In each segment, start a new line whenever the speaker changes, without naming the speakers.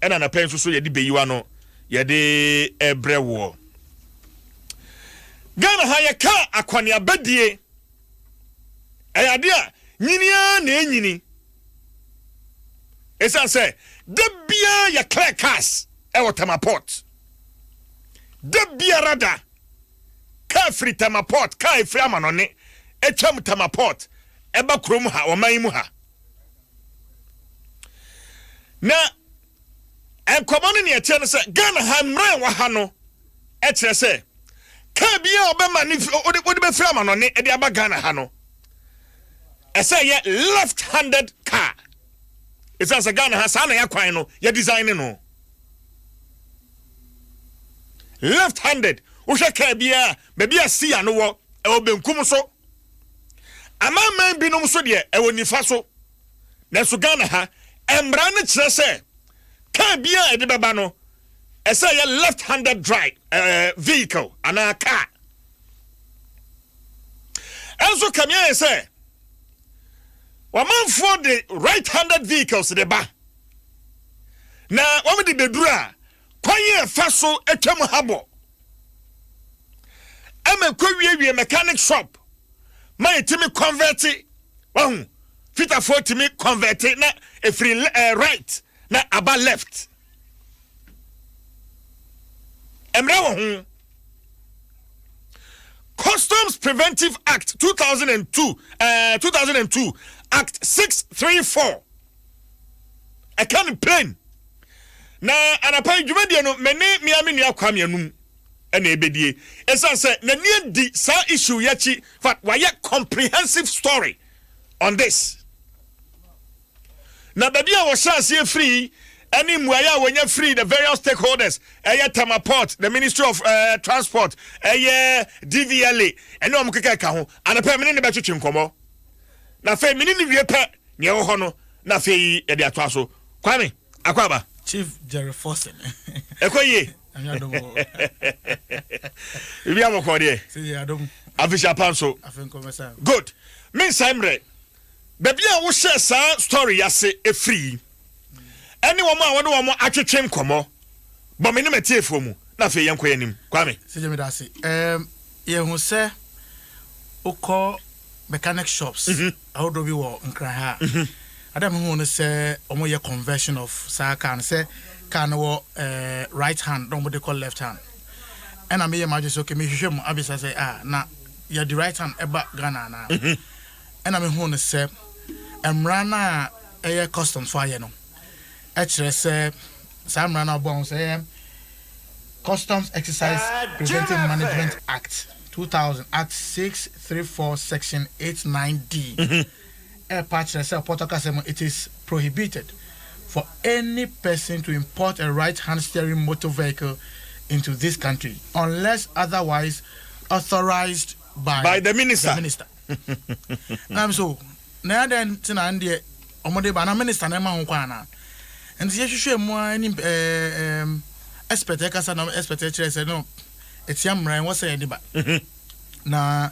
Ɛna anapa yi nso so yɛde bɛyi w'ano yɛde ɛbrɛ woɔ. Ghana ha yɛka akwaneabadie ɛyɛ adeɛ a nyini ara na ɛnyini ɛsiane sɛ da biara yɛ clear cars ɛwɔ tamaport da biara da kaa firi tamaport kaa ɛfiri amanɔne ɛtwam tamaport ɛba kurom ha ɔman mu ha na nkɔmɔ no nea ɛteɛ no sɛ ghana ha mmerɛ wɔ ha no ɛkyerɛ sɛ kaa biara a ɔbɛma ne wode bɛfiri amanɔne ɛde aba ghana ha no ɛsɛ yɛ left handed car ɛsiane sɛ ghana ha saa na yɛakwan no yɛ design ne no left handed wohwɛ kaa biara baabi a siya no wɔ ɛwɔ benkum so Amanaman binom nso deɛ, ɛwɔ nifa so. Nanso Ghana ha, mmara no kyerɛ sɛ kaa biara a ɛde bɛba no, ɛsɛ ɛyɛ left-handed drive ɛɛ eh, vehicle anaa kaa. Ɛnso kame ayɛ sɛ wɔmanfoɔ de right-handed vehicles de ba na wɔn de bɛduru a Kwan a ɛfa so twa mu habɔ ma ɛkɔwiewie mechanic shop ma ɛtumi kɔnvɛte, wahu, fitafoɔ tumi kɔnvɛte na ɛfiri eh, right na aba left. Mmerɛ wɔ ho. Customs Preventive Act 2002, uh, 2002 Act 634 Ɛka no pain. Na anapa yi dwumadie no me ne mea me nua Kwame Anum ɛna ɛbɛdie. Ɛsiane sɛ n'ani adi saa issue yi akyi fact wayɛ comprehensive story on this. Na baabi a wɔhyɛ aseɛ firi yi ɛne mmuaeɛ a wɔnya firi the various stakeholders ɛyɛ Tama Port, the Ministry of uh, Transport, ɛyɛ DVLA ɛne wɔn keka ɛka ho. Anapa yi me ne ne bɛtwetwe nkɔmmɔ. Na afei mene no wie pɛ nea ɛwɔ hɔ no na afei yɛde atoa so. Kwame, Akwaaba. Chief Jerry
Forson. Ɛkɔ yie.
Biribi abɔkɔɔ deɛ.
Afehyia pa nso.
Good. Mensan mmerɛ. Baabi a wohyɛɛ saa story yi ase firi yi. ɛne wɔn a wɔne wɔn atwetwe nkɔmmɔ. Bɔ me ne m'atiefoɔ mu, na afei yɛnkɔ yɛn anim. Kwame. Sɛ meda ase.
Um, yɛhu sɛ wokɔ mechanic shops mhm. ahodoɔ bi wɔ nkran ha a. Mhm. Ada mehu no sɛ wɔyɛ conversion of saa car no sɛ car no wɔ eh, right hand na wɔde kɔ left hand. Ɛna meyɛ m'adwe sɛ okay, mehwehwɛ mu abisa sɛ ah, na yɛde right hand ɛba Ghana anaa? Mhm. na mehuu no sɛ mmara no a ɛyɛ kɔstomfo ayɛ no kyerɛ sɛ saa mmara no a wɔbɔɔ ho sɛ ɛyɛ Customs Exercise Preventive Management Act, two thousand, Act six three four, Section eight nine D, ɛrepa kyerɛ sɛ Ɔpɔtɔ kasa mu it is prohibited for any person to import a right-hand steering motor vehicle into this country unless otherwise authorized. by the minister na m so na adɛn nti na ndeɛ ɔmo de ba na minister na ɛma ho kwan anaa nti yɛhwehwɛ mu a ɛne ɛɛm expert ɛkasa na expert ɛkyerɛ sɛ no ɛtia mmara ɛwɔ sɛ yɛde ba na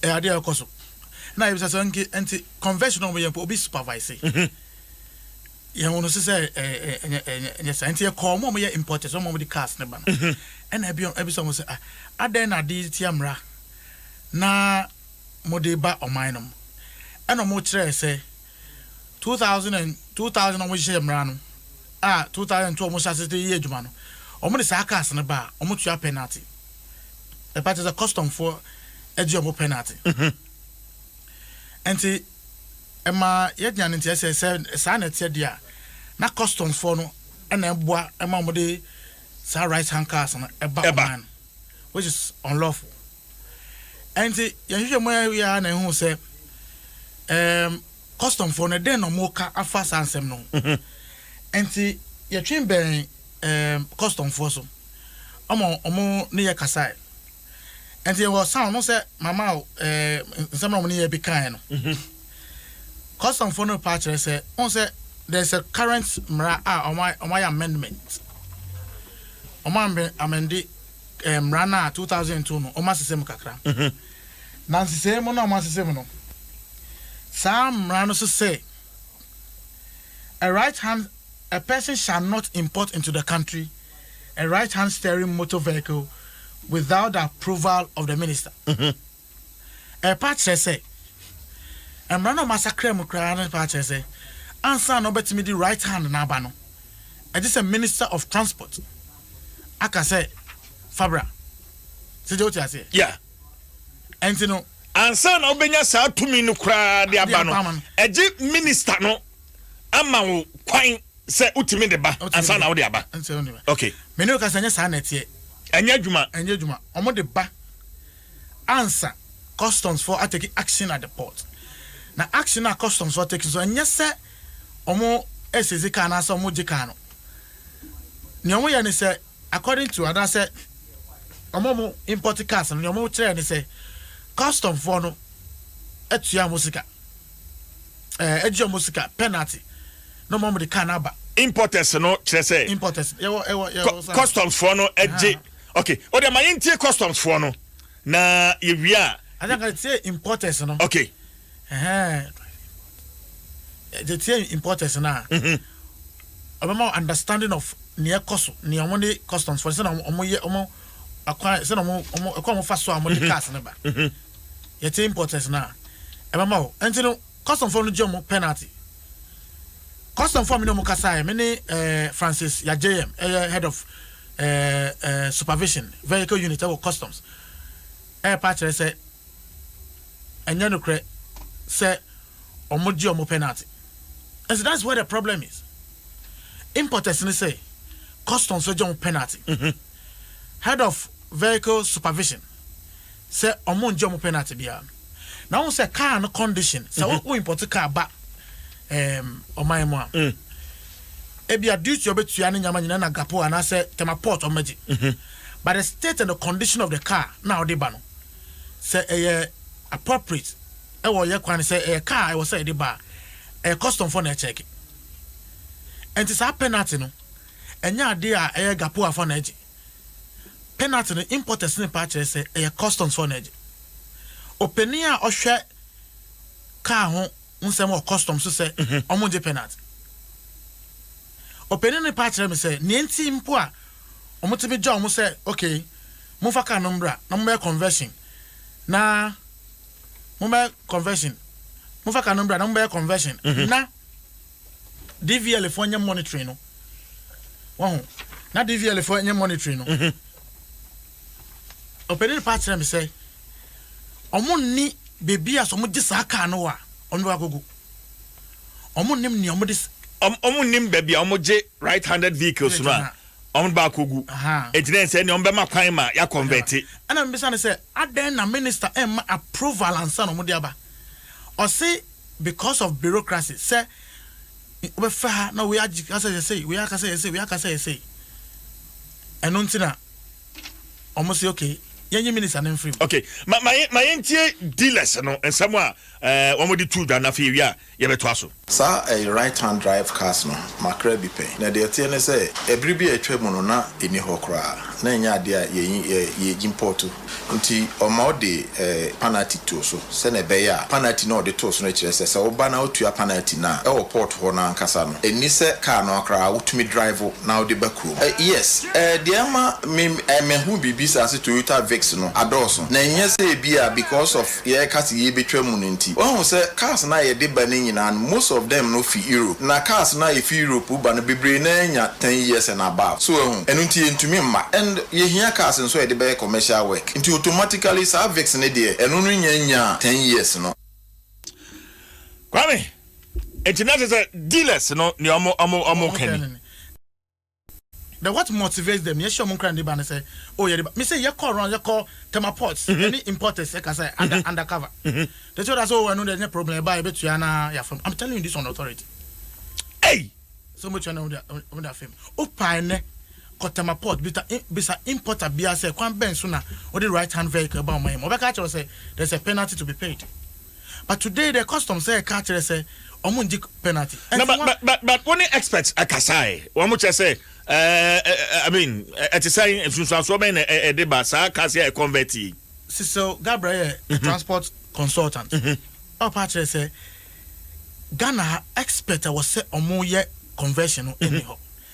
ɛyɛ adeɛ a ɛkɔ so na yɛbisa sɛ nti convention a ɔmo yɛ mpo obi supervise Yɛn hu no so sɛ ɛnyɛ saa. Nti yɛkɔɔ wɔn a wɔyɛ importers, wɔn a wɔde cars no ba no. Ɛna ɛbisa wɔn sɛ, ah, adɛn na ade tia mmara na mode ba ɔman no mu? Ɛna wɔn kyerɛɛ sɛ, 2000 and 2000 na wɔn hyehyɛ mmara no, a 2002 wɔn hyɛ ase de yɛ adwuma no, wɔn de saa cars no ba a, wɔn tua penalty. Ɛpa kyerɛ sɛ custom foɔ ɛgye wɔn penalty. Nti. ɛma yɛnya no nteɛ sɛ, sɛ saa na ɛteɛ deɛ a, na customs-foɔ no na ɛboa ma wɔde saa right hand cars no ba ɔman no, which is unlawful. Ɛnti, yɛn nhwehwɛmu a yɛyɛ ara na yɛhuu sɛ, ɛɛm, customs-foɔ no, dɛn na wɔreka afa saa nsɛm no ho? Ɛnti, yɛtwe bɛn, ɛɛm, customs-foɔ so, ɛma wɔne yɛn kasaeɛ. ɛnti ɛwɔ sound no sɛ mama ɛɛ eh, nsɛm na wɔn ne yɛ bi kan no mhm. custom fo no pa kyerɛ sɛ wɔn sɛ there is a current mmara a wɔn wɔn ayɛ amendment wɔn amende ɛɛ eh, mmara no a two thousand two no wɔn asesɛ mu kakra mhm. na nsesɛ mu na wɔn asesɛ mu no saa mmara no so sɛ a right hand a person shall not import into the country. a right hand steering motor vehicle without the approval of the minister. Ɛrepa akyerɛ sɛ, mmara no a wɔasakra mu koraa no repa akyerɛ sɛ, ansa na wobɛtumi de right hand no aba no, ɛgye sɛ minister of transport aka sɛ fa bra. Sɛdeɛ wote aseɛ? Yeah.
Ɛnti
no. Ansa na wobɛnya
saa tumi no koraa de aba no, ɛgye minister no ama wo kwan. Sɛ wotumi de ba ansa na wode aba. Okay. Me ne wo kasa nyɛ saa
na ɛteɛ. Ɛnyɛ adwuma.
Ɛnyɛ adwuma. Wɔn de ba
ansa customs fo ateki action at the port. Na action a customs fo ateki so ɛnyɛ sɛ wɔn ɛsezi kaa anaasɛ wɔn gye kaa no. Nea wɔn yɛ ne sɛ According to anasɛ wɔn a wɔn import cars no nea wɔn kyerɛɛ ne sɛ custom foɔ no atua wɔn sika ɛɛ agye wɔn sika penalty na wɔn de car no aba. Importers no kyerɛ
sɛ. Importers yɛwɔ ɛwɔ yɛwɔ
saa. Customs
foɔ no agye okay o deɛ ma yɛn tie customs foɔ no na yɛ wie a. Adanka tie
importers no. Okay.
Ɛhɛɛ
de tie importers no a. Mhm. Ɔbɛma understanding of nea ɛkɔ so, nea wɔn ne customs fo sɛnea wɔn yɛ wɔn akwan sɛnea wɔn wɔn ɛkɔ wɔn fa so a wɔn de mhm. cars no ba. Mhm. Yɛte importers no a ɛbɛma o. Ɛnti no customs fo no gye wɔn penalty. Customs fo a mi ne wɔn kasa yɛ mi ne ɛɛ eh, Francis Yajayam ɛyɛ head of ɛɛ eh, ɛɛ eh, supervision vehicle unit ɛwɔ customs ɛɛpa kyerɛ sɛ. Ɛnyɛ nokorɛ sɛ wɔn gye wɔn penalty ɛsɛ that's where the problem is importers ne sɛ customs gye wɔn penalty head of vehicle supervision sɛ wɔn ngye wɔn penalty biara na wɔn sɛ car no condition sɛ wɔn wɔn import car ba ɛɛm ɔman mu a ebi a duty wɔn bɛ tua ne nyama nyina na gapo anaasɛ tema port wɔn bɛ gye but the state and the condition of the car na wɔde ba no. sɛ ɛyɛ appropriate ɛwɔ yɛ kwan sɛ ɛyɛ car a ɛwɔ sɛ yɛde ba a ɛyɛ custom fɔ na ɛkyɛke ɛnti saa penalty no ɛnyɛ adeɛ a ɛyɛ gapoa fɔ na ɛgye penalty no importers ne paa kyerɛ sɛ ɛyɛ customs fɔ na ɛgye ɔpanin a ɔhwɛ car ho nsɛm wɔ customs so sɛ ɔmo gye penalty ɔpanin ne paa kyerɛ me sɛ nea nti mpo a wɔn tumi gya wɔn sɛ okay momfa car no mbra na mommɛyɛ conversion na mommɛyɛ conversion momfa car no mbra na mommɛyɛ conversion mhm. na DVL fo nyɛ monitoring no wɔn ho na DVL fo nyɛ monitoring no mhm. ɔpɛni pa kyerɛ mi sɛ wɔn ni beebi a sɛ wɔn gye saa car no wa wɔn bɛ wakɔ gu. ɔmo nim nea ɔmo de. ɔmo nim baabi
a ɔmo gye right handed vehicles no a ɔmo de baako gu eti na ɛsɛ nea ɔmo bɛma kwan ma ya kɔnvɛte. Ɛna mi bisa no sɛ
adɛn na minister ɛmma approval ansa na ɔmo de aba ɔse because of bureaucracy sɛ wobɛfɛ ha na wei agye ka sɛ yɛ sei wei aka sɛ yɛ sei wei aka sɛ yɛ sei ɛno nti na ɔmo se okay yɛnyi minister no mfiri mu. Okay ma ma ma
yɛn tie dealers no nsɛm a Eh, wɔde too dwa no afei ewie a yɛbɛtoa so. Saa eh, right
hand drive cars no, makra bi pɛn. Na deɛ ɛteɛ ne sɛ, eh, bere bi a atwa mu no na ɛnni hɔ koraa, na ɛnyɛ adeɛ a yɛn eh, yɛ gyimpoɔto. Nti ɔma ɔde eh, panati too so, sɛnea ɛbɛyɛ a panati no a ɔde too so no kyerɛ sɛ, sɛ woba na wotua panati no a, ɛwɔ port hɔ no ankasa no, ɛnni sɛ car no koraa wotumi drive na wode ba kurom. Eh, yes, eh, deɛ ɛma me eh, mahu biribi saa sɛ Toyota Vix no adɔɔso, na ɛnyɛ sɛ ebia because of. yɛreka sɛ yebetwa mu no nti. Woahu sɛ cars no a yɛde ba no nyinaa no most of them no fi Europe. Na cars no a efi Europe reba no bebree no ara nya ten years and above. So woahu? Ɛno nti yentumi mma. And yehia cars nso a yɛde bɛyɛ commercial work. Nti automatically saa Vicks no deɛ ɛno no nnya nnyaa ten years no.
Kwame, Nti na kyerɛ sɛ dealers no nea wɔka ni.
The what motivates them yɛhyɛ ɔmo nkran de ba ne sɛ o oh, yɛde ba me sɛ yɛkɔ around yɛkɔ thermal ports ɛne mm-hmm. importers ɛka sɛ under mm-hmm. undercover the two that's all ɛno de ɛnyɛ problem ɛba yɛbɛtua na yɛafam I'm telling you this on authority ɛy
sɛ ɔmo tua
na ɔmo de afam o paa ɛnɛ kɔ thermal port bisa bisa importer bia sɛ kwan bɛn so na ɔde right hand vehicle ɛba ɔmo yɛ mo ɔbɛka akyerɛ sɛ there's a penalty to be paid. but today dɛ custom sɛ ɛka kyerɛ sɛ ɔmo ngye penalty. No but but
but but wo ne experts ɛkasa ɛ wɔn kyerɛ sɛ ɛɛ ɛ I mean ɛte sɛ nsunsuansoɔ bɛn na ɛde ba saa cars yɛ convert yi. Cecil
Gabriel yɛ a transport consultant ɔpa kyerɛ sɛ Ghana ha expert a wɔsɛ ɔmo yɛ conversion no ɛni hɔ.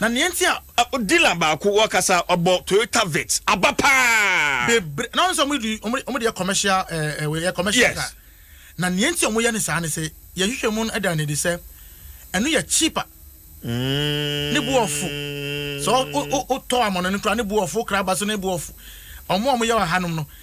Na nea nti a dealer baako
wɔkasa ɔbɔ Toyota Vitz aba paa. Bebre na ɔno sɛ ɔmo
di ɔmo ɔmo deɛ commercial ɛɛ ɛɛ commercial car. Yes. Na nea nti a ɔmo yɛ ne saa ne sɛ yɛn hwehwɛ mu no ɛda no adi sɛ ɛno yɛ cheaper. Ne bo ɔfo. Sɛ o o o tɔ amɔnɔne koraa ne bo ɔfo, wokra aba so ne bo ɔfo. Ɔmo a ɔmo yɛ wɔ ha nom no.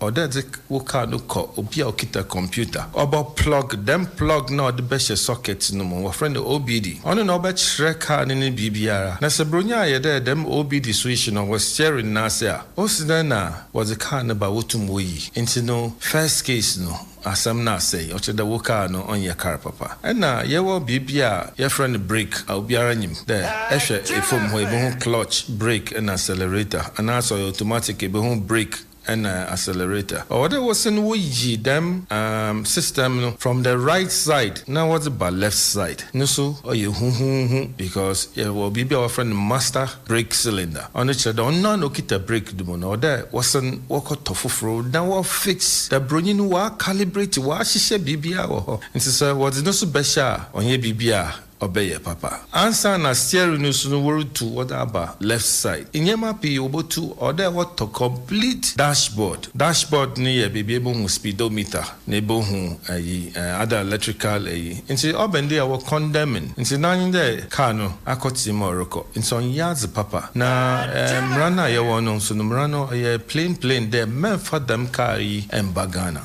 Ɔdɛ dze wo kaar no kɔ obi a okitsa kɔmpiwta. Ɔbɔ plɔg, dɛm plɔg no a ɔdze bɛhyɛ sɔkɛt no mu, wɔfrɛ no OBD. Ɔno na ɔbɛkyerɛ kaar no ne biribiara. Na sɛ borɔnyi a yɛ dɛ dɛm OBD so yi hye no wɔ steering no ase a, osi dɛn na wɔdze kaar no ba wotum woyi? Ntsi no first case no asɛm no asɛe, ɔkyerɛ dɛ wo kaar no ɔnnyɛ kaar papa. Nna yɛwɔ biribi a yɛfrɛ no brake a obiara nyim dɛ ehwɛ famu hɔ a ibohu clutch, brake na accelerator, anaasɛ ɔyɛ automatic a ibohu brake na accelerator. Ɔwɔ dɛ wo sen wo yi dɛm umm system no from the right side na wɔ dze ba left side no so ɔyɛ huhuuhu because yɛ wɔ biribi a wɔ frɛ no master brake cylinder ɔno kyerɛ dɛ ɔno noara na okitsa brake no mu no ɔwɔ dɛ wɔ sen wɔ kɔ tɔ fofor na wɔ fix dɛ bronyi no ɔa calibrate ɔa hyehyɛ biribiara wɔ hɔ ntsi sɛ wɔ dze no so bɛhyɛ a ɔnnyɛ biribi a ɔbɛyɛ papa. Ansaana steering no so no worutu wɔdze aba left side. Ndzɛmba pii wobotu, ɔwɔ dɛ wɔtɔ complete dashboard. Dashboard no yɛ beebi a ebohu speedometer na ebohu ayi other electrical eyi. Ntsi ɔbɛn dɛ ɔwɔ condemning ntsi n'adwen dɛ kaar no akɔtsee mu a ɔrokɔ ntsi ɔnnyɛ adze papa. Na mbra no a yɛwɔ no so no mbra no ɔyɛ plain plain dɛ mɛmmfa dɛm kaar yi mmba Ghana.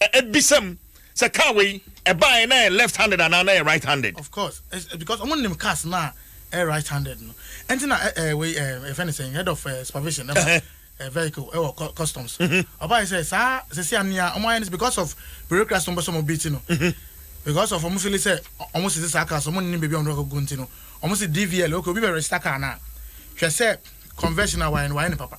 ɛbisam sɛ car wei ɛbaeɛ na ɛyɛ left handed anaa na ɛyɛ right handed. of course eh, because
ɔmo nim cars no a ɛyɛ right handed no ɛnti na eh, eh, wei ɛfɛ ne sɛn head of eh, supervision ɛba eh, eh, vehicle ɛwɔ eh, customs mhm. ɔbaeɛ sɛ saa sɛsi anea ɔmo ayɛ no because of bureaucracy no mbɛsɛ ɔmo beat no mhm. because of ɔmo fili sɛ ɔmo sisi saa cars ɔmo nim baabi ɔmo dɔkɔ gu nti no ɔmo si dvl okay obi bɛ register car na hwɛ sɛ conversion a wayɛ no wayɛ no papa.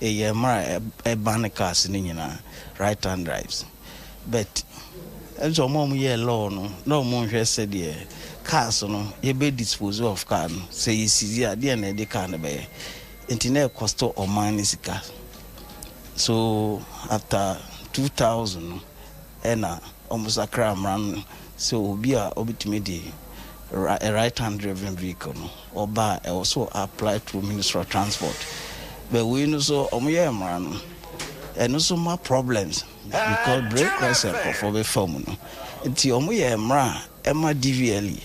eyɛ mmerɛ a ɛbane cars no nyinaa right hand drives but ɛnso ɔmo a ɔmo yɛɛ law no na ɔmo nhwɛ sɛdeɛ cars no yɛbɛ dispose of car no sɛ yɛ seize a deɛn na ɛde car no bɛyɛ nti na ɛcost ɔman no sika so after 2000 no ɛna ɔmo sakra mmara no sɛ obi a ɔbɛtumi de right hand driven vehicle no. Ɔba a ɛwɔ so apply through ministry of transport but wei no so ɔmo yɛ mmara no ɛno nso ma problems because break rest nkorɔfoɔ bɛ fa mu no nti ɔmo yɛ mmara a ɛma DVLE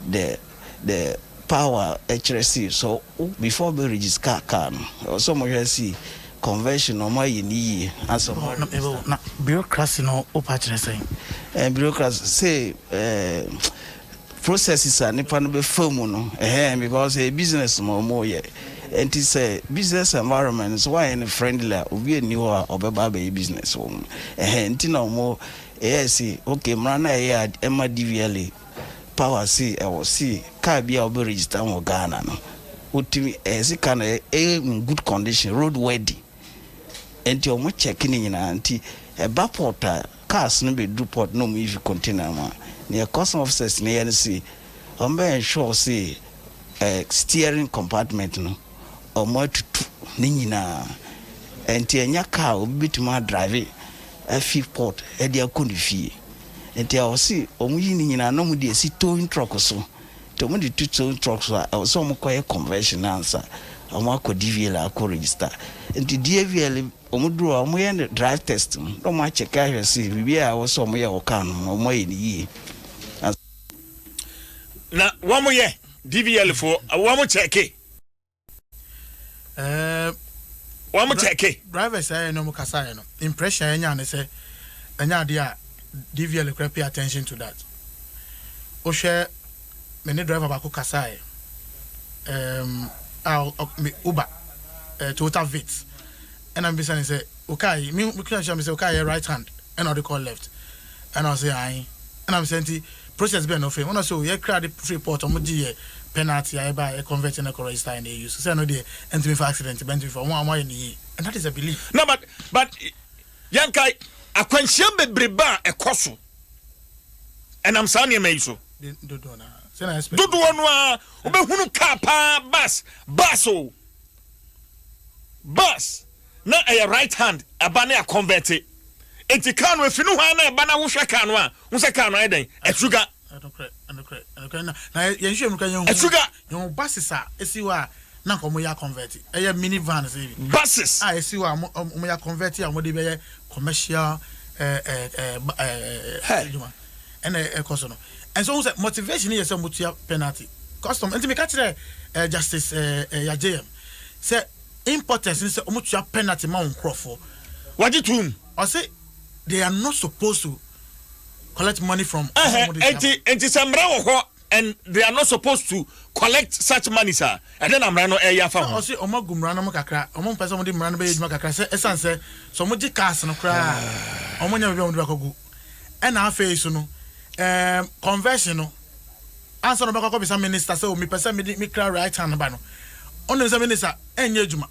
the the power ɛkyerɛ si so before ɔbɛ register car car no ɛwɔ so ɔmo hwɛ si conversion no ɔmo ayɛ no yie ansa ɔmo ade register. Na bureaucracy
no wopa kyerɛ sɛn? Ɛɛ bureaucracy
se ɛɛ. Processes a nipa no bɛ fa mu no ɛhɛn because ɛyɛ business ma ɔmo yɛ ɛnti sɛ business environment sɛ w'anyɛ no friendly a obi ɛnni hɔ a ɔbɛba abɛyɛ business wɔ mu ɛhɛn nti na ɔmo ɛyɛɛ se okay mmara no a ɛyɛ a ɛma DVLA power se ɛwɔ se car bi a ɔbɛ register wɔ Ghana no wotumi ɛyɛ se car no ɛyɛ in good condition road worthy. Ɛnti ɔmo check ne nyinaa nti ɛba port a cars no bɛ duru port na ɔmo yi fi container mu a neɛ custom officers no yɛ no se ɔmo bɛ ensure se ɛ steering compartment no ɔmo atutu ne nyinaa ɛnti ɛnyɛ car obi bɛtumi a drive afi port ɛde akɔ ne fie ɛnti ɔse ɔmo yi ne nyinaa na ɔmo de asi towing truck so. Nti ɔmo de tu tow truck so a ɛwɔ sɛ ɔmo kɔ yɛ conversion no ansa ɔmo akɔ DVL akɔ register. Nti DVL ɔmo duru hɔ a ɔmo yɛ no drive test no na ɔmo akyɛke ahwɛ se biribiara a ɛwɔ sɛ ɔmo yɛ wɔ car no ho no ɔmo ayɛ no yie ansa.
Na wɔn yɛ DVL foɔ wɔn kyɛke. ɛɛ wɔn kyɛke drivers ayɛ no wɔn
kasa ayɛ no impression ɛnya ne sɛ ɛnya adeɛ a dvl kura pay attention to that wohwɛ me ne driver baako kasa ayɛ ɛɛm a uber ɛɛ toyota vit Ɛna mebisa no sɛ, Wo kaa yi, me kura kyerɛ me sɛ wo kaa yɛ right hand ɛna ɔde kɔɔ left? Ɛna ɔse ae. Ɛna mese nti process bɛn na ɔfɛm? Ɛna ɔse oh yɛ kra de firi port ɔmo gye yɛ penalty a ɛba a yɛ convert na ɛkɔ register a ɛna yɛ use. Sɛ ɛno deɛ ɛntumi fa accident ba ɛntumi fa, ɔmo ayɛ no yie and that is a belief. Na but but
yɛnkae akwanhyia bebrebe a ɛkɔ so ɛnam saa nneɛma yi so. Dodoɔ no
ara. Dodoɔ no ara
wobɛhunu kaa paa bus bus o. Bus na ɛyɛ right hand ɛba ne akɔnvɛte nti car no ɛfiri nohoaa na ɛba na wohwɛ car no a wohu sɛ car no ayɛ dɛn
asuga asuga Buses
a
ɛsi hɔ a na nka wɔyɛ akɔnvɛte ɛyɛ mini van sɛ bi Buses a ɛsi
hɔ
a wɔyɛ akɔnvɛte a wɔde bɛyɛ commercial adwuma. ɛna ɛkɔ so no ɛnso ho sɛ motivation no yɛ sɛ motua penalty custom nti meka kyerɛ eh, justice eh, eh, yajm sɛ importers no sɛ ɔmotua penalty ma wo nkurɔfoɔ wagye
tom
ɔse they are not
supposed to
collect money from nti nti
sɛ mmara wɔ hɔ and they are not supposed to collect such money sir ɛdɛ na mmara no ɛyɛ afa ho ɔse ɔmo agu mmara no mu
kakra ɔmo mpɛ sɛ ɔmo de mmara no bɛyɛ adwuma kakra sɛ ɛsan sɛ sɛ ɔmo gye cars no koraa ɔmo nya baabi a ɔmo de bakɔ gu Ɛna afei so no ɛɛm conversion no ansa na ɔbɛkɔ akɔ bisa minister sɛ o mepɛ sɛ mede me kra right hand ba no ɔnim sɛ minister ɛnyɛ adwuma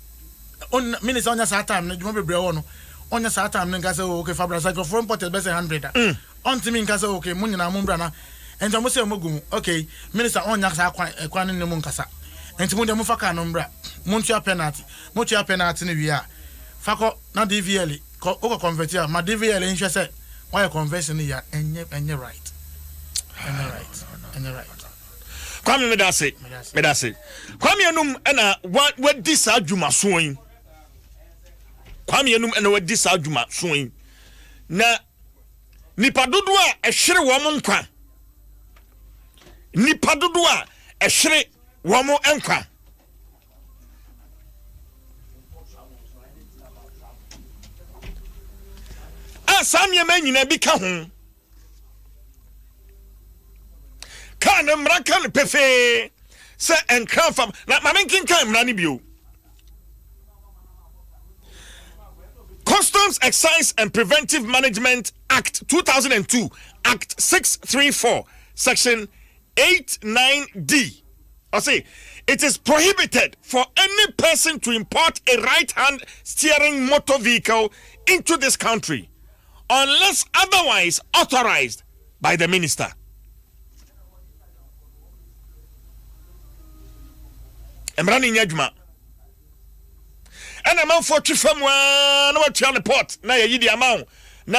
ɔn minister ɔnyɛ saa time no adwuma bebree wɔ no ɔnyɛ saa time no nka sɛ o okay fabra sɛ nkurɔfoɔ imported bɛsɛ hundred a ɔntumi nka sɛ okay mo nyinaa mo mbra na nti ɔmo sɛ ɔmo gu mu okay minister ɔnya saa kwan ɛkwan no ne mo nkasa nti mo deɛ mo fa kaa no mbra mo ntua penalty mo tua penalty no wie a fa kɔ na DVLE Kɔ wokɔ convert a ma DVL nhwɛ sɛ woayɛ conversion no yie a ɛnyɛ ɛnyɛ right ɛnyɛ right ɛnyɛ right. Kwame
medase medase Kwame enum ɛna wa wadi saa dwuma soɔ yi Kwame enum ɛna wadi saa dwuma soɔ yi na nipa dodo a ɛhwere wɔn nkwa nipa dodo a ɛhwere wɔn nkwa. a saa nneɛma nyinaa bi ka ho kaa ne mmara ka no pefee sɛ nkra fam na maame nkenkan mmara no bio Customs Excise and Preventive Management Act 2002 Act 634 Section 89D Ɔse, It is prohibited for any person to import a right hand steering motor vehicle into this country unless otherwise authorised by the minister. Mmara no nyɛ adwuma. Ɛna amanfoɔ twe fa mu ara na watua ne port na yɛyi de ama wo na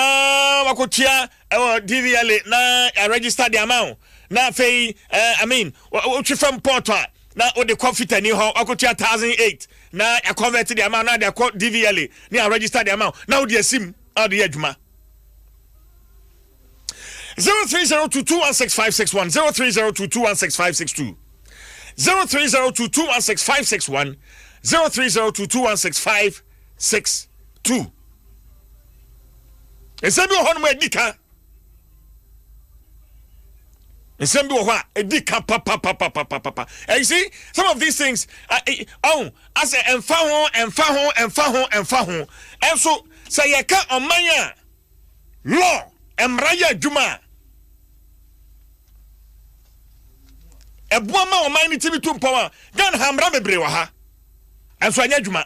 wakɔtua ɛwɔ DVLA na yɛ register de ama wo na afei eh, I mean wotwe fam port a na wode kɔ fitani hɔ wakotua thousand eight na yɛ convert de ama na de akɔ DVLA na yɛ register de ama wo na wode asim na wode yɛ adwuma. 0302216561 0302216562 0302216561 03022165 six two nsɛm bi wɔ hɔnom a ɛdi ka nsɛm bi wɔ hɔ a ɛdi ka papapapapapa and you see some of these things ɔn asɛ ɛnfa ho ɛnfa ho ɛnfa ho ɛnfa ho ɛnso sɛ yɛka ɔman a law mmara yɛ adwuma a ɛboa ma ɔman no tumi tu mpɔn a ghana ha mmara bebree wɔ ha ɛnso ɛnyɛ adwuma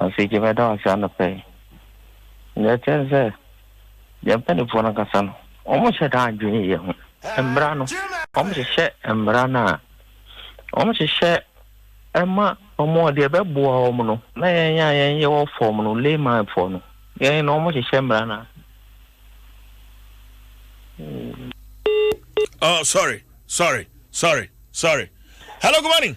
Afei gye mɛda wo ase anɔpa yi. Nea ɛteɛ ne sɛ, yɛn mpanimfoɔ no ankasa no, wɔnhyɛ da nnwen yɛn ho. Mmara no, wɔhyehyɛ mmara no a, wɔhyehyɛ ma wɔn a deɛ ɛbɛboa wɔn no, na yɛn a yɛnyɛ wɔ fam no, laymanfoɔ no, yɛn no wɔhyehyɛ mmara no a. Hmm.
Oh, sorry, sorry, sorry, sorry. Hello, good morning.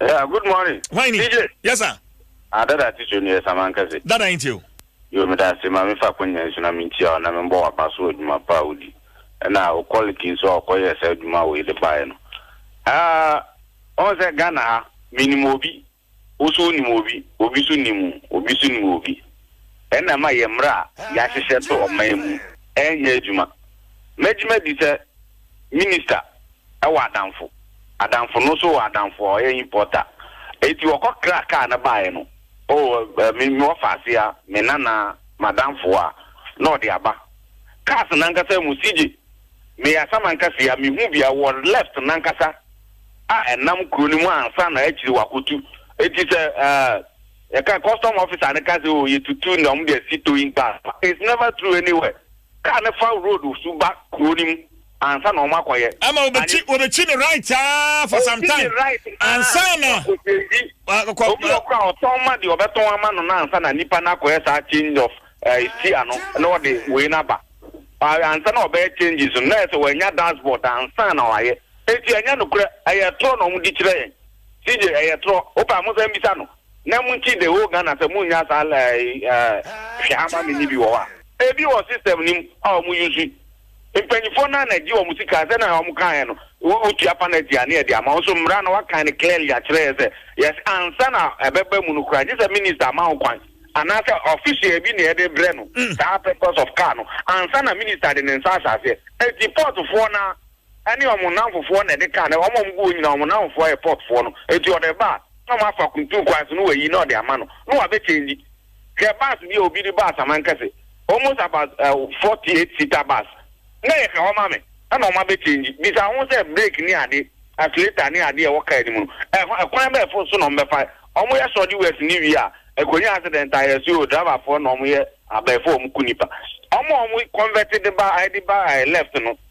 Yeah,
good morning. Why ni? DJ. Yes
sir. Ah, dada ti so
ni esa man kase. Dada yin ti o.
Yo me da se ma
me fa konya nso na me ntia o na me mbɔ waba so adwuma pa odi. Na o quality nso a ɔkɔyɛ saa adwuma wei de baeɛ no. Ah, ɔn sɛ Ghana ha, menim obi, wo so wonim obi, obi so nim wo, obi so nim obi. Ɛna ɛma yɛn mmara a yɛahyehyɛ to ɔman mu ɛnyɛ adwuma. Mɛgye madi sɛ Minista wɔ adamfo, adamfo no nso wɔ adamfo a ɔyɛ importer. Enti wɔkɔ kra car no baeɛ no, oh eh, me me wɔfa ase a, me nana, m'adamfo a, na ɔde aba. Cars no ankasa mu sigye, meyɛ Asamanka sei a, mehu bi a, wɔ left no ankasa a ɛnam kuro no mu ansa na akyire wɔakɔtu. Enti sɛ eh, yɛka custom officer no ka sɛ oh, yɛtutu na wɔn de asi towing car, it's never true anywhere. Car no fa road so ba kuro no mu ansa na wɔn akɔ yɛ. Ɛma wɔbɛkyi wɔbɛkyi ne right aa for some time. Wɔkyi ne right aa ansa na. Kɔkɔ obi a ɔkura ɔtɔn ma deɛ ɔbɛtɔn ama no na ansa na nipa no akɔyɛ saa change of ɛɛ steer no na ɔde wei no aba. Ansa na ɔbɛyɛ changes no na yɛ sɛ wɔanya dashboard ansa na wɔayɛ. Eti ɛnyɛ nokorɛ ɛyɛ torɔ na wɔn di kyerɛ yɛn. CJ ɛyɛ torɔ. Wopɛ a mo nsa mbisa no. Na mo nti the whole Ghana sɛ mo nnya saa laa yi eh hwɛ ama me nyi bi wɔ hɔ a. Ebi wɔ system no mu a ɔmo use. Mpanyinfoɔ no ara na gye ɔmo sika sɛnea ɔmo kaeɛ no wo wo tua panɛti a ne yɛde ama wo nso mmra no wakan no clearly akyerɛ yɛ sɛ yɛse ansa na ɛbɛba mu no koraa gye sɛ minister ama wo kwan anaa sɛ official bi na yɛde brɛ no saa purpose of car no ansa na minister de ne nsa ahyɛ aseɛ enti portfoɔ no ara ɛne wɔn nnamfofoɔ na ɛde kaa, na wɔn a wɔgu hɔ nyinaa wɔn nnamfofoɔ yɛ Putfoɔ no, enti ɔde ba a, na wɔafa kuntu kwan so na wɔayi na ɔde ama no, na wɔabɛ change. Hwɛ bus bi a obi de baa Samankɛse, almost about uh, 48 seater bus, na ɛyɛ ka hɔ ma me, ɛna wɔabɛ change. Bisa ho sɛ brake ne ade, accelerator ne ade a ɛwɔ car no mu no, ɛho, ɛkwan bɛn fo so na wɔbɛfa? Wɔyɛ sɔde west ne wie a, ɛkɔnya accident a, yɛse o, driverfoɔ na wɔyɛ abɛɛfo a wɔku nnipa. Wɔn a wɔconvert de ba, ɛde ba eh, left no,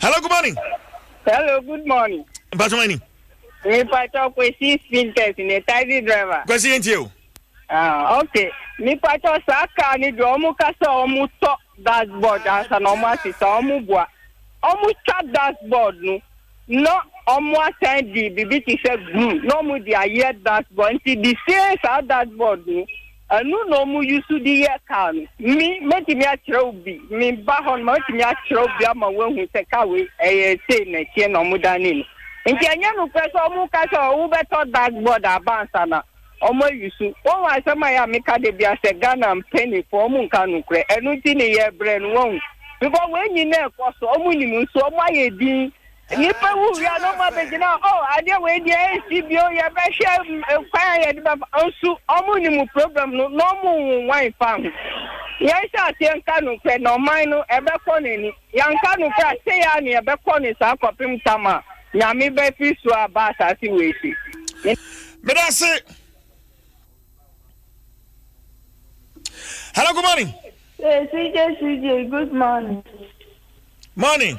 hello good morning. hello good
morning. mpatwa ma ni.
mipatwa
kwesi spinters ne taxi driver. kwesi yẹn ti o.
Ah, ok
mipatwa saa kaa ni deɛ ɔmo ka sɛ ɔmo tɔ dashboard ansa na ɔmo asesa ɔmo bua ɔmo twa dashboard no na ɔmo asan di bibi ti sɛ glue na ɔmo di ayɛ dashboard nti di see saa dashboard no. Ɛno na ɔmo yusu de yɛ kaa no. Me, mɛtumi akyerɛ wo bi. Me ba hɔ no, mɛtumi akyerɛ wo bi ama woahu sɛ kaa wei ɛyɛ sei na ɛteɛ na ɔmo danee no. Nti ɛnyɛ nokorɛ sɛ ɔmo ka sɛ wobɛtɔ dark board aba ansa na ɔmo ayusu. Wahu asɛm a ɛyɛ a meka da biara sɛ Ghana mpaninfoɔ ɔmo nka nokorɛ. Ɛno nti ne yɛbrɛ no wahu. Because wei nyinaa ɛkɔ so ɔmo nim nso ɔmo ayɛ din Nnipa wuwui a na wɔabɛgyina hɔ, oh, adeɛ wei deɛ ɛnsi bio, yɛbɛhwɛ kwan a yɛde bɛfa, nso wɔnim problem no na wɔnwowa mfa ho. Yɛnhyɛ aseɛ nka nokorɛ na ɔman no ɛbɛkɔ n'ani. Yɛanka nokorɛ a, sei ara na yɛbɛkɔ no saa kɔpem tam a Nyame bɛfiri soro aba asase wei so. Meda
ase. Hello, good morning. Hey, CJ, CJ,
good morning.
Morning.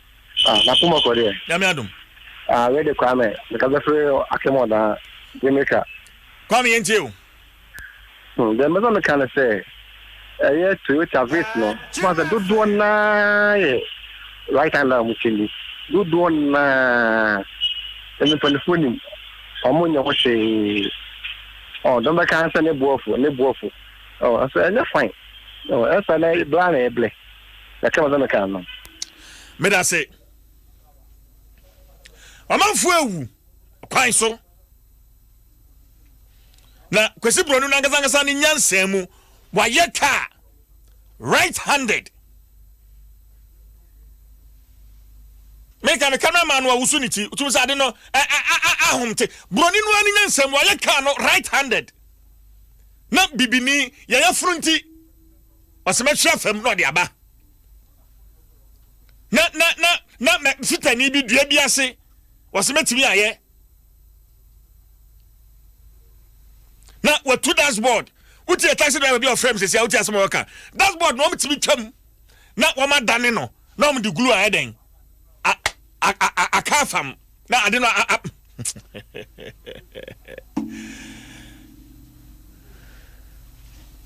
Ah, na poma
kɔ deɛ. Nyame adom.
Ah, wei de
Kwame, meka bɛ fere akem ɔdaa, yɛ meka. Kwame yɛn
tie o. Hmm,
deɛ mbɛsɛ meka ne sɛ, ɛyɛ Toyota Vitz no, ma sɛ dodoɔ naa yɛ right hand a wɔn ti ni, dodoɔ naa, ɛmi mpanifoɔ nim, wɔn nyɛ ho hwee, ɔ, dɔm bɛka sɛ ne boɔfo, ne boɔfo, ɔ, ɛsɛ ɛnyɛ fine, ɔ, ɛsɛ na bla na ɛblɛ. Yɛka ma sɛ meka ano. Medase.
Ɔmanfoɔ awu kwan so. Na Kwesi Broni no ankasa ankasa ne nyansa mu wayɛ kaa right handed. meka no camera man no a wusu ne ti wotum sɛ ade no ahom te buroni no ani nya nsɛm wayɛ kaa no right handed na bibini yɛyɛ foro nti ɔsɛ mɛhwe afam na ɔde aba na na na na mɛ sitani bi dua bi ase ɔsɛ mɛtumi ayɛ na watu dashboard wotu yɛ taxi driver bi a ɔfrɛ mi sisi a wotu asɛm a ɔka dashboard na wɔn tumi twam na wɔn adane no na wɔn de glue ayɛ dɛn aka afam. na ade no a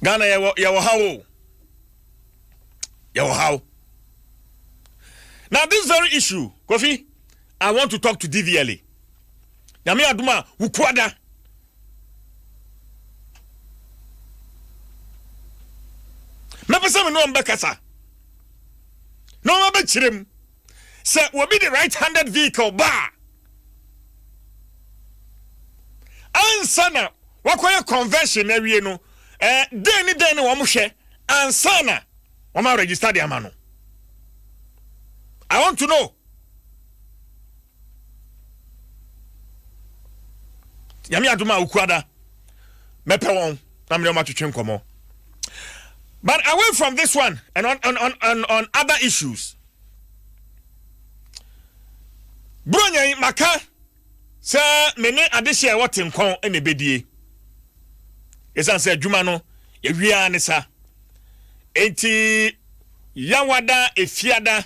ghana yɛwɔ yɛwɔ haw o yɛwɔ haw now this very issue kofi i want to talk to dvla nyame adom a wokuada mɛpɛ sɛ me ne ɔmbɛkasa na ɔmabɛkyerɛ mu Sɛ obi de right-handed vehicle ba a, ansa na wakɔyɛ conversion awie no, eh, dɛn ne dɛn na wɔhwɛ ansa na wɔn aregister de ama no? I want to know. nyame adom a okuada mɛpɛ wɔn na mene wɔn atwetwe nkɔmmɔ but away from this one and on, on, on, on, on other issues buronya yi maka sɛ mene adehye a ɛwɔ tenkɔn ɛna ɛbɛdie ɛsiane sɛ adwuma no yɛwiaa ne sa enti yawada efiada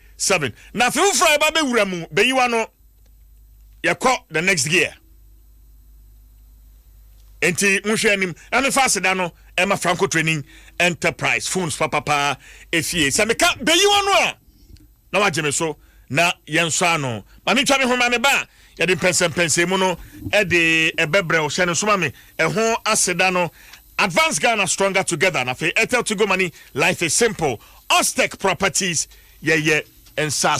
Seven na afe foforɔ a yɛba bɛwura mu bɛyiwa no yɛkɔ the next gear nti monhwɛ anim na mefa aseda no ɛma franco training enterprise phones papapaa efie sɛ meka bɛyiwa no a na wagye me so na yɛnsɔ ano ma mentwa me ho ma me ba a yɛde mpɛnsɛmpɛnsɛ mu no ɛde ɛbɛbrɛ hyɛ no soma me ɛho aseda no Advance Ghana Stronger Together na afei Airtel Tigo Money Life is Simple Austec Properties Yɛyɛ nsase.